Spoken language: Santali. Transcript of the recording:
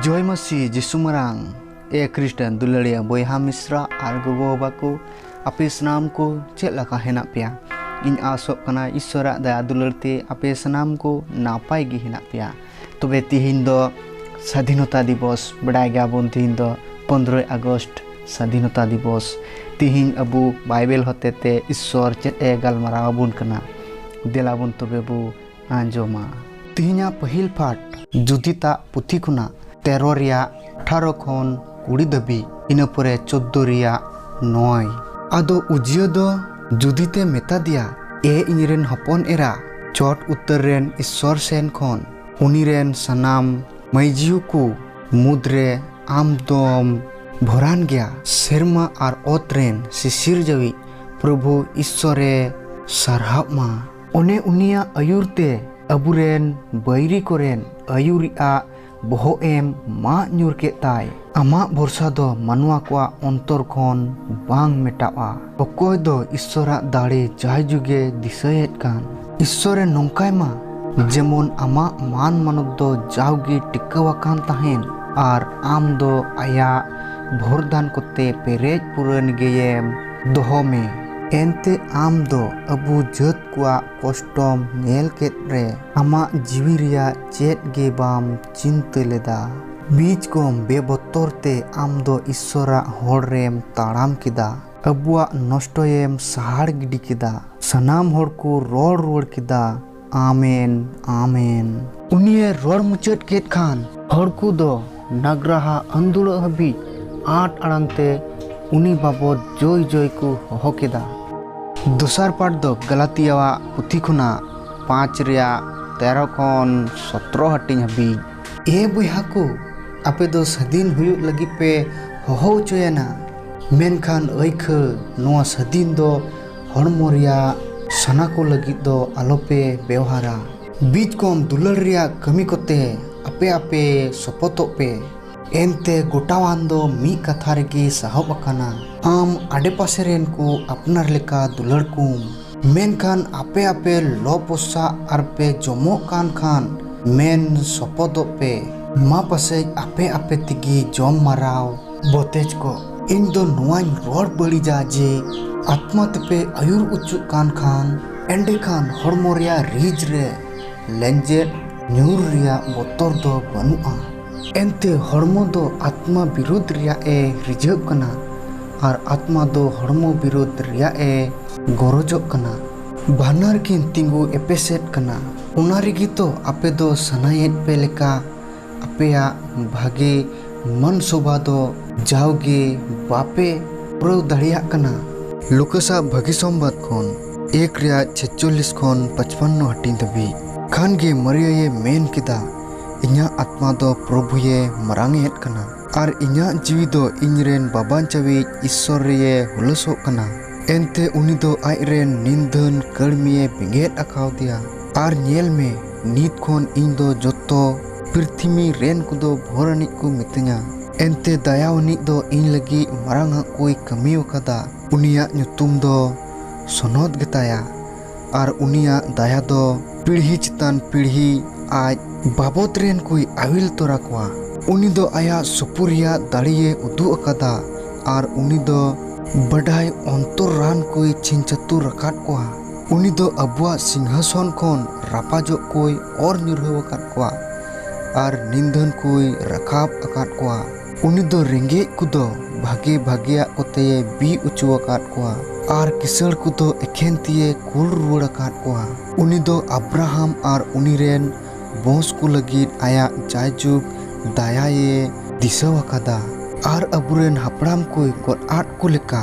ᱡᱚᱭ ᱢᱟᱹᱥᱤ ᱡᱤᱥᱩ ᱢᱟᱨᱟᱝ ᱮ ᱠᱨᱤᱥᱴᱟᱱ ᱫᱩᱞᱟᱹᱲᱤᱭᱟᱹ ᱵᱚᱭᱦᱟ ᱢᱤᱥᱨᱟ ᱟᱨ ᱜᱚᱜᱚ ᱵᱟᱵᱟ ᱠᱚ ᱟᱯᱮ ᱥᱟᱱᱟᱢ ᱠᱚ ᱪᱮᱫ ᱞᱮᱠᱟ ᱦᱮᱱᱟᱜ ᱯᱮᱭᱟ ᱤᱧ ᱟᱥᱚᱜ ᱠᱟᱱᱟ ᱤᱥᱥᱚᱨᱟᱜ ᱫᱟᱭᱟ ᱫᱩᱞᱟᱹᱲ ᱛᱮ ᱟᱯᱮ ᱥᱟᱱᱟᱢ ᱠᱚ ᱱᱟᱯᱟᱭ ᱜᱮ ᱦᱮᱱᱟᱜ ᱯᱮᱭᱟ ᱛᱚᱵᱮ ᱛᱤᱦᱤᱧ ᱫᱚ ᱥᱟᱫᱷᱤᱱᱚᱛᱟ ᱫᱤᱵᱚᱥ ᱵᱟᱰᱟᱭ ᱜᱮᱭᱟᱵᱚᱱ ᱛᱤᱦᱤᱧ ᱫᱚ ᱯᱚᱱᱨᱚᱭ ᱟᱜᱚᱥᱴ ᱥᱟᱫᱷᱤᱱᱚᱛᱟ ᱫᱤᱵᱚᱥ ᱛᱤᱦᱤᱧ ᱟᱵᱚ ᱵᱟᱭᱵᱮᱞ ᱦᱚᱛᱮᱛᱮ ᱤᱥᱥᱚᱨ ᱪᱮᱫ ᱮ ᱜᱟᱞᱢᱟᱨᱟᱣ ᱟᱵᱚᱱ ᱠᱟᱱᱟ ᱫᱮᱞᱟᱵᱚᱱ ᱛᱚᱵᱮ ᱵᱚ ᱟᱸᱡᱚᱢᱟ᱾ ᱛᱤᱦᱤᱧᱟᱜ ᱯᱟᱹᱦᱤᱞ ᱯᱟᱴ ᱡᱩᱫᱤᱛᱟᱜ ᱯᱩᱛᱷᱤ ᱠᱷᱚᱱᱟᱜ ᱛᱮᱨᱚ ᱨᱮᱭᱟᱜ ᱟᱴᱷᱟᱨᱚ ᱠᱷᱚᱱ ᱠᱩᱲᱤ ᱫᱷᱟᱹᱵᱤᱡ ᱤᱱᱟᱹ ᱯᱚᱨᱮ ᱪᱚᱫᱫᱚ ᱨᱮᱭᱟᱜ ᱱᱚᱭ᱾ ᱟᱫᱚ ᱩᱡᱤᱭᱚ ᱫᱚ ᱡᱩᱫᱤᱛᱮ ᱢᱮᱛᱟᱫᱮᱭᱟ ᱮ ᱤᱧᱨᱮᱱ ᱦᱚᱯᱚᱱ ᱮᱨᱟ ᱪᱚᱴ ᱩᱛᱟᱹᱨ ᱨᱮᱱ ᱤᱥᱥᱚᱨ ᱥᱮᱱ ᱠᱷᱚᱱ ᱩᱱᱤᱨᱮᱱ ᱥᱟᱱᱟᱢ ᱢᱟᱹᱭᱡᱤᱭᱚ ᱠᱚ ᱢᱩᱫᱽ ᱨᱮ ᱟᱢ ᱫᱚᱢ ᱵᱷᱚᱨᱟᱱ ᱜᱮᱭᱟ ᱥᱮᱨᱢᱟ ᱟᱨ ᱚᱛ ᱨᱮᱱ ᱥᱤᱥᱤᱨᱡᱟᱹᱣᱤᱡ ᱯᱨᱚᱵᱷᱩ ᱤᱥᱥᱚᱨᱮ ᱥᱟᱨᱦᱟᱣᱜ ᱢᱟ᱾ ᱚᱱᱮ ᱩᱱᱤᱭᱟᱜ ᱟᱹᱭᱩᱨ ᱛᱮ ᱟᱵᱩᱨᱮᱱ ᱵᱟᱹᱭᱨᱤ ᱠᱚᱨᱮᱱ ᱟᱹᱭᱩᱨᱤᱡ ᱟᱜ ᱵᱚᱦᱚᱜ ᱮᱢ ᱢᱟᱜ ᱧᱩᱨ ᱠᱮᱫ ᱛᱟᱭ᱾ ᱟᱢᱟᱜ ᱵᱷᱚᱨᱥᱟ ᱫᱚ ᱢᱟᱱᱣᱟ ᱠᱚᱣᱟᱜ ᱚᱱᱛᱚᱨ ᱠᱷᱚᱱ ᱵᱟᱝ ᱢᱮᱴᱟᱣᱜᱼᱟ᱾ ᱚᱠᱚᱭ ᱫᱚ ᱤᱥᱥᱚᱨᱟᱜ ᱫᱟᱲᱮ ᱡᱟᱭᱡᱩᱜᱮ ᱫᱤᱥᱟᱹᱭᱮᱫ ᱠᱟᱱ᱾ ᱤᱥᱥᱚᱨ ᱮ ᱱᱚᱝᱠᱟᱭ ᱢᱟ᱾ ᱡᱮᱢᱚᱱ ᱟᱢᱟᱜ ᱢᱟᱱ ᱢᱟᱱᱚᱛ ᱫᱚ ᱡᱟᱣᱜᱮ ᱴᱤᱠᱟᱹᱣ ᱟᱠᱟᱱ ᱛᱟᱦᱮᱸᱱ ᱟᱨ ᱟᱢ ᱫᱚ ᱟᱭᱟᱜ ᱵᱷᱚᱨᱫᱟᱱ ᱠᱚᱛᱮ ᱯᱮᱨᱮᱡ ᱯᱩᱨᱟᱹᱱ ᱜᱮᱭᱮᱢ᱾ ᱫᱚᱦᱚ ᱢᱮ᱾ ᱮᱱᱛᱮ ᱟᱢ ᱫᱚ ᱟᱵᱩ ᱡᱟᱹᱛ ᱠᱚᱣᱟᱜ ᱠᱚᱥᱴᱚᱢ ᱧᱮᱞ ᱠᱮᱫ ᱨᱮ ᱟᱢᱟᱜ ᱡᱤᱣᱤ ᱨᱮᱭᱟᱜ ᱪᱮᱫ ᱜᱮ ᱵᱟᱢ ᱪᱤᱱᱛᱟᱹ ᱞᱮᱫᱟ᱾ ᱵᱤᱡᱽ ᱠᱚᱢ ᱵᱮᱵᱚᱛᱚᱨ ᱛᱮ ᱟᱢ ᱫᱚ ᱤᱥᱥᱚᱨᱟᱜ ᱦᱚᱨ ᱨᱮᱢ ᱛᱟᱲᱟᱢ ᱠᱮᱫᱟ᱾ ᱟᱵᱩᱣᱟᱜ ᱱᱚᱥᱴᱚᱭᱮᱢ ᱥᱟᱦᱟᱲ ᱜᱤᱰᱤ ᱠᱮᱫᱟ᱾ ᱥᱟᱱᱟᱢ ᱦᱚᱲ ᱠᱚ ᱨᱚᱲ ᱨᱩᱣᱟᱹᱲ ᱠᱮᱫᱟ᱾ ᱟᱢᱮᱱ ᱟᱢᱮᱱ ᱩᱱᱤᱭᱮ ᱨᱚᱲ ᱢᱩᱪᱟᱹᱫ ᱠᱮᱫ ᱠᱷᱟᱱ ᱦᱚᱲ ᱠᱚ ᱫᱚ ᱱᱟᱜᱽᱨᱟᱦᱟ ᱟᱹᱱᱫᱩᱲᱟᱹᱜ ᱦᱟᱹᱵᱤᱡ ᱟᱸᱴ ᱟᱲᱟᱝ ᱛᱮ ᱩᱱᱤ ᱵᱟᱵᱚᱫ ᱡᱚᱭ ᱡᱚᱭ ᱠᱚ ᱦᱚᱦᱚ ᱠᱮᱫᱟ᱾ ᱫᱚᱥᱟᱨ ᱯᱟᱴ ᱫᱚ ᱜᱟᱞᱟᱛᱤᱭᱟᱣᱟᱜ ᱯᱩᱛᱷᱤ ᱠᱷᱚᱱᱟᱜ ᱯᱟᱸᱪ ᱨᱮᱭᱟᱜ ᱛᱮᱨᱚ ᱠᱷᱚᱱ ᱥᱚᱛᱨᱚ ᱦᱟᱹᱴᱤᱧ ᱦᱟᱹᱵᱤᱡ᱾ ᱮ ᱵᱚᱭᱦᱟ ᱠᱚ, ᱟᱯᱮ ᱫᱚ ᱥᱟᱹᱫᱷᱤᱱ ᱦᱩᱭᱩᱜ ᱞᱟᱹᱜᱤᱫ ᱯᱮ ᱦᱚᱦᱚ ᱚᱪᱚᱭᱮᱱᱟ᱾ ᱢᱮᱱᱠᱷᱟᱱ ᱟᱹᱭᱠᱷᱟᱹ ᱱᱚᱶᱟ ᱥᱟᱹᱫᱷᱤᱱ ᱫᱚ ᱦᱚᱲᱢᱚ ᱨᱮᱭᱟᱜ ᱥᱟᱱᱟ ᱠᱚ ᱞᱟᱹᱜᱤᱫ ᱫᱚ ᱟᱞᱚᱯᱮ ᱵᱮᱣᱦᱟᱨᱟ᱾ ᱵᱤᱡᱽ ᱠᱚᱢ ᱫᱩᱞᱟᱹᱲ ᱨᱮᱭᱟᱜ ᱠᱟᱹᱢᱤ ᱠᱚᱛᱮ ᱟᱯᱮ ᱟᱯᱮ ᱥᱚᱯᱚᱛᱚᱜ ᱯᱮ᱾ ᱮᱱᱛᱮ ᱜᱚᱴᱟᱣᱟᱱ ᱫᱚ ᱢᱤᱫ ᱠᱟᱛᱷᱟ ᱨᱮᱜᱮ ᱥᱟᱦᱚᱵ ᱟᱠᱟᱱᱟ᱾ ᱟᱢ ᱟᱰᱮᱯᱟᱥᱮ ᱨᱮᱱ ᱠᱚ ᱟᱯᱱᱟᱨ ᱞᱮᱠᱟ ᱫᱩᱞᱟᱹᱲ ᱠᱚᱢ᱾ ᱢᱮᱱᱠᱷᱟᱱ ᱟᱯᱮ ᱟᱯᱮ ᱞᱚ ᱯᱚᱥᱟᱜ ᱟᱨ ᱯᱮ ᱡᱚᱢᱚᱜ ᱠᱟᱱ ᱠᱷᱟᱱ ᱢᱮᱱ ᱥᱚᱯᱚᱛᱚᱜ ᱯᱮ᱾ ᱢᱟ ᱯᱟᱥᱮᱡ ᱟᱯᱮ ᱟᱯᱮ ᱛᱮᱜᱮ ᱡᱚᱢ ᱢᱟᱨᱟᱣ᱾ ᱵᱚᱛᱮᱡ ᱠᱚ ᱤᱧ ᱫᱚ ᱱᱚᱣᱟᱧ ᱨᱚᱲ ᱵᱟᱹᱲᱤᱡᱟ ᱡᱮ ᱟᱛᱢᱟ ᱛᱮᱯᱮ ᱟᱹᱭᱩᱨ ᱚᱪᱚᱜ ᱠᱟᱱ ᱠᱷᱟᱱ ᱮᱸᱰᱮᱠᱷᱟᱱ ᱦᱚᱲᱢᱚ ᱨᱮᱭᱟᱜ ᱨᱤᱡ ᱨᱮ ᱞᱮᱸᱡᱮᱫ ᱧᱩᱨ ᱨᱮᱭᱟᱜ ᱵᱚᱛᱚᱨ ᱫᱚ ᱵᱟᱹᱱᱩᱜᱼᱟ ᱮᱱᱛᱮ ᱦᱚᱲᱢᱚ ᱫᱚ ᱟᱛᱢᱟ ᱵᱤᱨᱳᱫᱷ ᱨᱮᱭᱟᱜ ᱮ ᱨᱤᱡᱷᱟᱹᱜ ᱠᱟᱱᱟ ᱟᱨ ᱟᱛᱢᱟ ᱫᱚ ᱦᱚᱲᱢᱚ ᱵᱤᱨᱳᱫᱷ ᱨᱮᱭᱟᱜ ᱮ ᱜᱚᱨᱚᱡᱚᱜ ᱠᱟᱱᱟ ᱵᱟᱱᱟᱨ ᱠᱤᱱ ᱛᱤᱸᱜᱩ ᱮᱯᱮᱥᱮᱫ ᱠᱟᱱᱟ ᱚᱱᱟ ᱨᱮᱜᱮ ᱛᱚ ᱟᱯᱮ ᱫᱚ ᱥᱟᱱᱟᱭᱮᱫ ᱯᱮ ᱞᱮᱠᱟ ᱟᱯᱮᱭᱟᱜ ᱵᱷᱟᱜᱮ ᱢᱟᱱ ᱥᱚᱵᱷᱟ ᱫᱚ ᱡᱟᱣᱜᱮ ᱵᱟᱯᱮ ᱯᱩᱨᱟᱹᱣ ᱫᱟᱲᱮᱭᱟᱜ ᱠᱟᱱᱟ᱾ ᱞᱩᱠᱟᱥ ᱟᱜ ᱵᱷᱟᱜᱮ ᱥᱚᱢᱵᱟᱫᱽ ᱠᱷᱚᱱ ᱮᱠ ᱨᱮᱭᱟᱜ ᱪᱷᱮᱪᱪᱚᱞᱞᱤᱥ ᱠᱷᱚᱱ ᱯᱟᱪᱯᱟᱱᱱᱚ ᱦᱟᱹᱴᱤᱧ ᱫᱷᱟᱹᱵᱤᱡ ᱠᱷᱟᱱ ᱜᱮ ᱢᱟᱨᱤᱭᱟᱭᱮ ᱢᱮᱱ ᱠᱮᱫᱟ, ᱤᱧᱟᱜ ᱟᱛᱢᱟ ᱫᱚ ᱯᱨᱚᱵᱷᱩᱭᱮ ᱢᱟᱨᱟᱝ ᱮᱫ ᱠᱟᱱᱟ᱾ ᱟᱨ ᱤᱧᱟᱜ ᱡᱤᱣᱤ ᱫᱚ ᱤᱧ ᱨᱮᱱ ᱵᱟᱵᱟᱧᱪᱟᱣᱤᱡ ᱤᱥᱥᱚᱨ ᱨᱮᱭᱮ ᱦᱩᱞᱟᱹᱥᱚᱜ ᱠᱟᱱᱟ᱾ ᱮᱱᱛᱮ ᱩᱱᱤ ᱫᱚ ᱟᱡ ᱨᱮᱱ ᱱᱤᱱᱫᱷᱟᱹᱱ ᱠᱟᱹᱲᱢᱤᱭᱮ ᱵᱮᱸᱜᱮᱫ ᱟᱠᱟᱣᱫᱮᱭᱟ᱾ ᱟᱨ ᱧᱮᱞ ᱢᱮ! ᱱᱤᱛ ᱠᱷᱚᱱ ᱤᱧ ᱫᱚ ᱡᱚᱛᱚ᱾ ᱯᱨᱤᱛᱷᱤᱢᱤ ᱨᱮᱱ ᱠᱚᱫᱚ ᱵᱷᱚᱨ ᱟᱹᱱᱤᱡ ᱠᱚ ᱢᱤᱛᱟᱹᱧᱟ᱾ ᱮᱱᱛᱮ ᱫᱟᱭᱟ ᱟᱹᱱᱤᱡ ᱫᱚ ᱤᱧ ᱞᱟᱹᱜᱤᱫ ᱢᱟᱨᱟᱝ ᱟᱜ ᱠᱚᱭ ᱠᱟᱹᱢᱤ ᱟᱠᱟᱫᱟ᱾ ᱩᱱᱤᱭᱟᱜ ᱧᱩᱛᱩᱢ ᱫᱚ ᱥᱚᱱᱚᱛ ᱜᱮᱛᱟᱭᱟ ᱟᱨ ᱩᱱᱤᱭᱟᱜ ᱫᱟᱭᱟ ᱫᱚ᱾ ᱯᱤᱲᱦᱤ ᱪᱮᱛᱟᱱ ᱯᱤᱲᱦᱤ ᱟᱡ᱾ ᱵᱟᱵᱚᱛ ᱨᱮᱱ ᱠᱚᱭ ᱟᱹᱣᱤᱞ ᱛᱚᱨᱟ ᱠᱚᱣᱟ᱾ ᱩᱱᱤ ᱫᱚ ᱟᱭᱟᱜ ᱥᱩᱯᱩᱨᱤᱭᱟᱜ ᱫᱟᱲᱮᱭᱮ ᱩᱫᱩᱜ ᱟᱠᱟᱫᱟ ᱟᱨ ᱩᱱᱤ ᱫᱚ᱾ ᱵᱟᱰᱟᱭ ᱚᱱᱛᱚᱨᱟᱱ ᱠᱚᱭ ᱪᱷᱤᱝᱪᱷᱟᱹᱛᱩᱨ ᱟᱠᱟᱫ ᱠᱚᱣᱟ᱾ ᱩᱱᱤ ᱫᱚ ᱟᱵᱚᱣᱟᱜ ᱥᱤᱝᱦᱟᱥᱚᱱ ᱠᱷᱚᱱ ᱨᱟᱯᱟᱡᱚᱜ ᱠᱚᱭ ᱚᱨ ᱧᱩᱨᱦᱟᱹᱣ ᱟᱠᱟᱫ ᱠᱚᱣᱟ ᱟᱨ ᱱᱤᱱᱫᱷᱟᱹᱱ ᱠᱚᱭ ᱨᱟᱠᱟᱵ ᱟᱠᱟᱫ ᱠᱚᱣᱟ᱾ ᱩᱱᱤ ᱫᱚ ᱨᱮᱸᱜᱮᱡ ᱠᱚᱫᱚ ᱵᱷᱟᱜᱮ ᱵᱷᱟᱜᱮᱭᱟᱜ ᱠᱚᱛᱮᱭ ᱵᱤ ᱚᱪᱚ ᱟᱠᱟᱫ ᱠᱚᱣᱟ᱾ ᱟᱨ ᱠᱤᱥᱟᱹᱬ ᱠᱚᱫᱚ ᱮᱠᱷᱮᱱ ᱛᱤᱭᱮ ᱠᱩᱞ ᱨᱩᱣᱟᱹᱲ ᱟᱠᱟᱫ ᱠᱚᱣᱟ᱾ ᱩᱱᱤ ᱫᱚ ᱟᱵᱽᱨᱟᱦᱟᱢ ᱟᱨ ᱩᱱᱤ ᱨᱮᱱ ᱵᱚᱸᱥ ᱠᱚ ᱞᱟᱹᱜᱤᱫ ᱟᱭᱟᱜ ᱡᱟᱭᱡᱩᱜᱽ ᱫᱟᱭᱟᱭᱮ ᱫᱤᱥᱟᱹᱣ ᱟᱠᱟᱫᱟ᱾ ᱟᱨ ᱟᱵᱚ ᱨᱮᱱ ᱦᱟᱯᱲᱟᱢ ᱠᱚᱭ ᱜᱚᱫ ᱟᱫ ᱠᱚ ᱞᱮᱠᱟ᱾